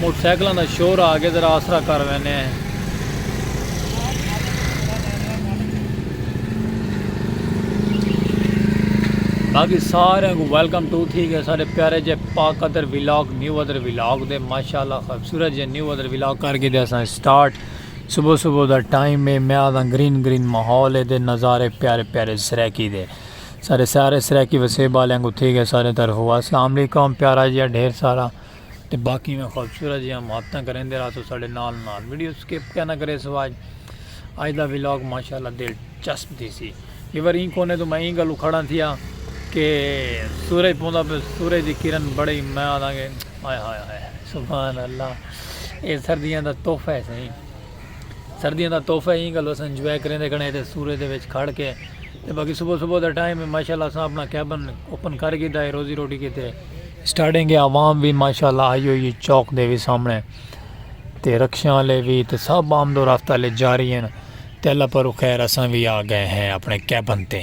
Motor سائیکلاں دا شور آ گئے ذرا آسرا کر وینے ہیں باقی سارے کو ویلکم ٹو تھی گئے سارے پیارے جے پاک ادر ویلاگ نیو ادر ویلاگ دے ماشاءاللہ خوبصورت جے نیو ادر ویلاگ کر کے دے اساں سٹارٹ صبح صبح دا ٹائم ہے میں آدھا گرین گرین ماحول ہے دے نظارے پیارے پیارے سریکی دے سارے سارے سریکی وسیب والے کو تھی گئے سارے طرف ہوا السلام علیکم پیارا جی ڈھیر سارا تے باقی میں خوبصورت جیاں محبتاں کریندے رہسو ساڈے نال نال ویڈیو سکپ کیا نہ کرے سو آج آج دا ویلاگ ماشاءاللہ دلچسپ تھی سی یہ بار این کونے تو میں این گلو کھڑا تھیا کہ سورج پوندا پہ سورج دی کرن بڑی میں آدھاں گے آئے ہائے ہائے سبحان اللہ اے سردیاں دا تحفہ ہے سہی سردیاں دا تحفہ این گلو سنجوائے کریندے کھڑے تے سورج دے وچ کھڑ کے تے باقی صبح صبح دا ٹائم ہے ماشاءاللہ اساں اپنا کیبن اوپن کر گھیدا ہے روزی روٹی کیتے سٹارٹنگ ہے عوام وی ماشاءاللہ آئی ہوئی ہے چوک دے وی سامنے تے رکشیاں والے وی تے سب آمد و رفت والے جاری ہیں تے اللہ پر خیر اساں وی آ گئے ہیں اپنے کیبن تے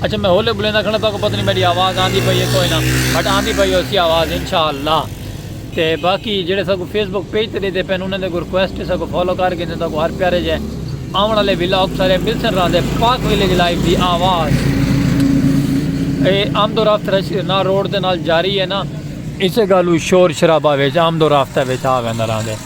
اچھا میں ہولے بلیندہ کھڑا تاکہ پتہ نہیں میری آواز آندھی پئی ہے کوئی نہ بٹ آندھی پئی ہو سی آواز انشاءاللہ تے باقی جڑے سکو فیس بک پیج تے دیتے پین انہیں دے کو ریکویسٹ سکو فالو کر کے دیتا کو ہر پیارے جائے آمن والے ویلاگ سارے مل سن رہا دے پاک ویلیج لائف دی آواز اے آمد و رفت رش نہ روڈ دے نال جاری ہے نا اسے گالو شور شرابہ ویچ آمد و رفتہ ویچ آگا نہ رہا دے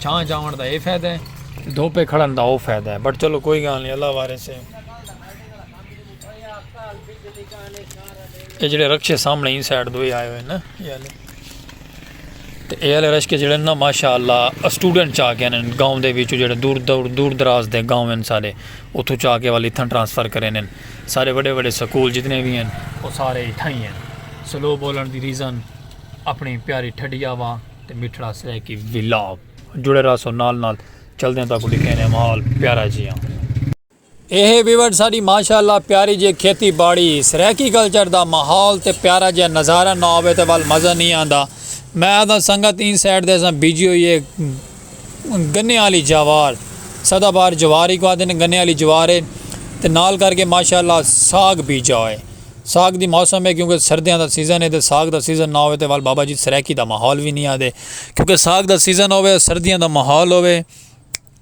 چھاں جاون دا اے فیدہ ہے تے دھوپے کھڑن دا او فیدہ ہے بٹ چلو کوئی گال نی اللہ وارث ہے اے جڑے رکشے سامنے ایں سائیڈ دوئے آئے ہوئے نا اے والے تے اے والے رشکے جڑے نا ماشاءاللہ اسٹوڈنٹ چا کے انہاں گاؤں دے وچوں جڑے دور دور دور دراز دے گاؤں ہیں سارے اتھوں چا کے والے اتھاں ٹرانسفر کرے نن سارے بڑے بڑے سکول جتنے بھی ہیں وہ سارے اتھاں ہی ہیں سلو بولن دی ریزن اپنی پیاری ٹھڈیا وا تے مٹھڑا سرائیکی ولاگ جڑے رہسو نال نال چلدیں تاکوں ڈکھینے ماحول پیارا جیاں۔ اے ہے ویورز ساڈی ماشاء اللہ پیاری جے کھیتی باڑی سرائیکی کلچر دا ماحول تے پیارا جیاں نظارہ نہ ہووے تے ول مزہ نی آندا میں آہداں سنگت ایں سائیڈ تے اساں بیجی ہوئی اے گنے آلی جوار سدا بہار جوار ہی کہا دینے گنے آلی جوار ہے تے نال کر کے ماشاءاللہ ساگ بیجا ہوئے ساگ دی موسم ہے کیونکہ سردیاں دا سیزن ہے تے ساگ دا سیزن نہ ہوئے تے وال بابا جی سرائیکی دا ماحول وی نہیں آدے کیونکہ ساگ دا سیزن ہوئے سردیاں دا ماحول ہوئے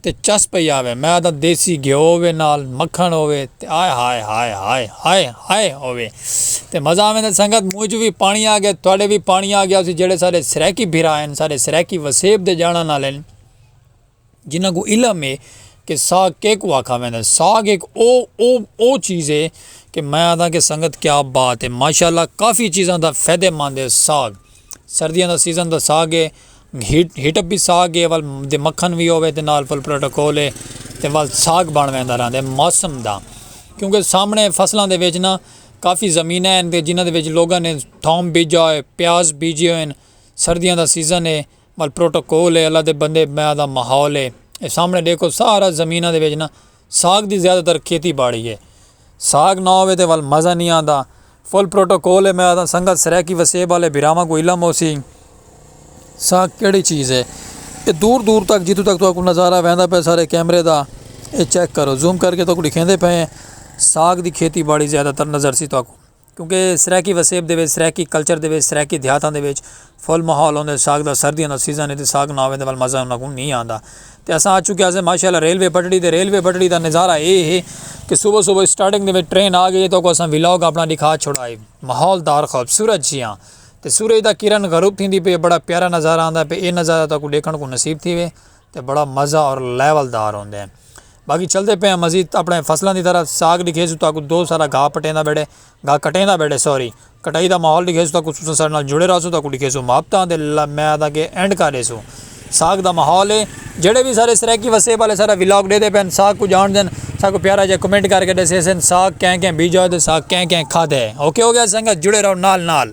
تے چس پہ آوے میں دا دیسی گھیو ہوئے نال مکھن ہوئے تے آئے ہائے ہائے ہائے ہائے ہائے ہوئے تے مزہ آویں دا سنگت منہ چوں وی پانی آ گیا تہاڈے وی پانی آ گیا ہوسی جیڑھے سارے سرائیکی بھرا ہن سارے سرائیکی وسیب دے جانڑاں نال ہن جنہاں کو علم ہے کہ ساگ کیکوں آکھا ویندا ہے ساگ ایک او او او چیز ہے کہ میں آکھدا کہ سنگت کیا بات ہے ماشاءاللہ کافی چیزاں دا فائدے مند ہے ساگ سردیاں دا سیزن دا ساگ ہے۔ ہیٹ اپ وی ساگ ہے ول دے مکھن وی ہووے تے نال فل پروٹوکول ہے تے ول ساگ بن ویندا رہندا ہے موسم دا کیونکہ سامنے فصلاں دے وچ نا کافی زمیناں ہن تے جنہاں دے وچ لوگاں نے تھوم بیجا ہوئے پیاز بیجے ہوئے سردیاں دا سیزن ہے ول پروٹوکول ہے اللہ دے بندے میں دا ماحول ہے سامنے ڈیکھو سارا زمیناں دے وچ نا۔ ساکھ دی زیادہ تر کھیتی باڑی ہے۔ ساکھ نہ ہووے تاں ول مزہ نئیں آندا۔ فل پروٹوکول ہے میں آکھداں سنگت سرائیکی وسیب آلے بھراواں کوں علم ہوسی۔ ساکھ کیڑی چیز ہے۔ ایہ دور دور تک جتھوں تک تہاکوں نظارہ ویندا پئے سارے کیمرے دا ایہ چیک کرو۔ زوم کر کے تہاکوں ڈکھیندے پئے ہیں۔ ساکھ دی کھیتی باڑی زیادہ تر نظر سی تہاکوں۔ کیونکہ سرائیکی وسیب دے وچ سرائیکی کلچر دے وچ سرائیکی دیہاتاں دے وچ فل ماحول ہوندے ساگ دا سردیاں دا سیزن تے ساگ نہ ہووے تے ول مزہ انہاں کوں نہیں آندا تے اساں آ چکے اسیں ماشاءاللہ ریلوے پٹڑی تے ریلوے پٹڑی دا نظارہ اے ہے کہ صبح صبح سٹارٹنگ دے وچ ٹرین آ گئی ہے تو کو اساں ولاگ اپنا دکھا چھوڑا ہے ماحول دار خوبصورت جیاں تے سورج دا کرن غروب تھیندی پئی ہے بڑا پیارا نظارہ آندا پے اے نظارہ تاکوں ڈیکھن کوں نصیب تھیوے۔ تے بڑا مزہ اور لیول دار ہوندے ہیں باقی چلدے پئے ہیں مزید اپنے فصلاں دی طرف ساگ ڈکھیسوں تاکو دو سارا گھا پٹیندا بیٹھے گھا کٹیندا بیٹھے سوری کٹائی دا ماحول ڈکھیسوں تاکو تساں ساڈے نال جڑے رہسوں تاکو ڈکھیسوں مابتاں دے میں آدھا کہ اینڈ کر ڈیسوں ساگ دا ماحول ہے جڑے بھی سارے سرائیکی وسیب والے سارا ولاگ ڈے دے پین ساگ کو جان دین ساکو پیارا جے کمنٹ کر کے ڈیسے سن ساگ کہیں کہیں بیجا دے ساگ کہیں کہیں کھا دے اوکے ہو گیا سنگت جڑے رہو نال نال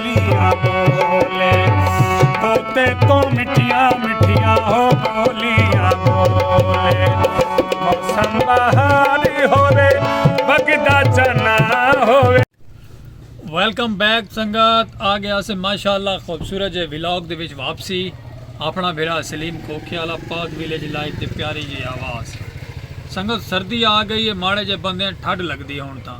ویلکم بیک سنگت آ گیا سے ماشاء اللہ خوبصورت جی ولاگ دے وچ واپسی اپنا بھیرا سلیم کھوکھے والا پاک ویلیج لائف دے پیاری جی آواز سنگت سردی آ گئی ہے ماڑے جے بندے ٹھڈ لگدی ہوں تاں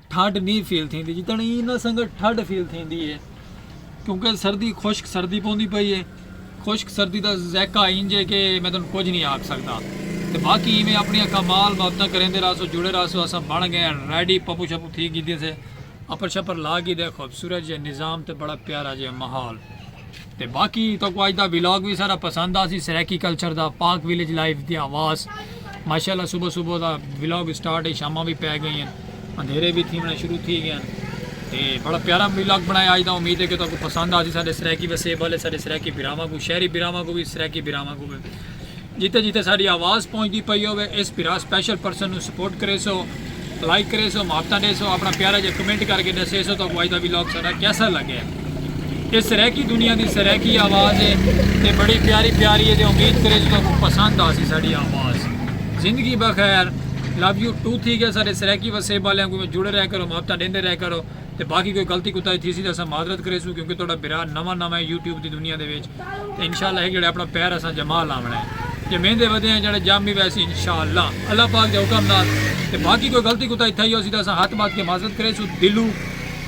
ٹھڈ نہیں فیل تھیندی جتنا ایں نہ سنگا ٹھڈ فیل تھیندی ہے کیونکہ سردی خشک سردی پوندی پئی ہے خشک سردی دا ذائقہ انج ہے کہ میں تن کچھ نہیں آکھ سکدا تے باقی ایویں اپنی کمال محبتاں کریندے راسو جڑے راسو اساں بن گئے ریڈی پپو شپو تھی گیدی سے اپر شپر لا گی دے خوبصورت جے نظام تے بڑا پیارا جے ماحول تے باقی تہاکوں اج دا ولاگ وی سارا پسند آسی سرائیکی کلچر دا پاک ولیج لائف دی آواز ماشاءاللہ صبح صبح دا ولاگ سٹارٹ ہے شاماں وی پے گئیں ہیں اندھیرے وی تھیونا شروع تھی گئے ہیں تے بڑا پیارا ولاگ بنایا اج دا امید ہے کہ تہاکوں پسند آسی سارے سرائیکی وسیب والے سارے سرائیکی بھراواں کو شہری بھراواں کو وی سرائیکی بھراواں کو وی جتے جتے ساڈی آواز پہنچدی پئی ہووے اس بھرا سپیشل پرسن نو سپورٹ کریسو لائک کریسو محبتاں ڈیسو اپنا پیارا جا کمنٹ کر کے ڈسیسو تہاکوں اج دا ولاگ ساڈا کیسا لگے اے سرائیکی دنیا دی سرائیکی آواز ہے تے بڑی پیاری پیاری ہے تے امید کریسو تہاکوں پسند آسی ساڈی آواز زندگی بخیر لو یو ٹو تھی گیا ساڈے سرائیکی وسیب والیاں کوں جڑے رہ کرو محبتاں ڈیندے رہ کرو تے باقی کوئی غلطی کوتاہی تھیسی تاں اساں معذرت کریسوں کیونکہ تہاڈا بھرا نواں نواں یوٹیوب دی دنیا دے وچ تے انشاءاللہ ہک جڑے اپنا پیر اساں جما لاونا ہے جے میندے ودے ہیں جڑے جام بھی ویسی انشاءاللہ اللہ پاک دے حکم نال تے باقی کوئی غلطی کوتا ہی تھائی ہو سی تے اساں ہاتھ بات کے معذرت کرے سو دلو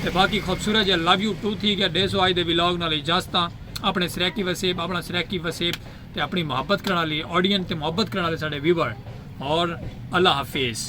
تے باقی خوبصورت جے لو یو ٹو تھی گیا ڈے سو آج دے ویلاگ نال اجازتاں اپنے سریکی وسیب اپنا سریکی وسیب تے اپنی محبت کرنا لی آڈین تے محبت کرنا لی ساڑے ویور اور اللہ حفیظ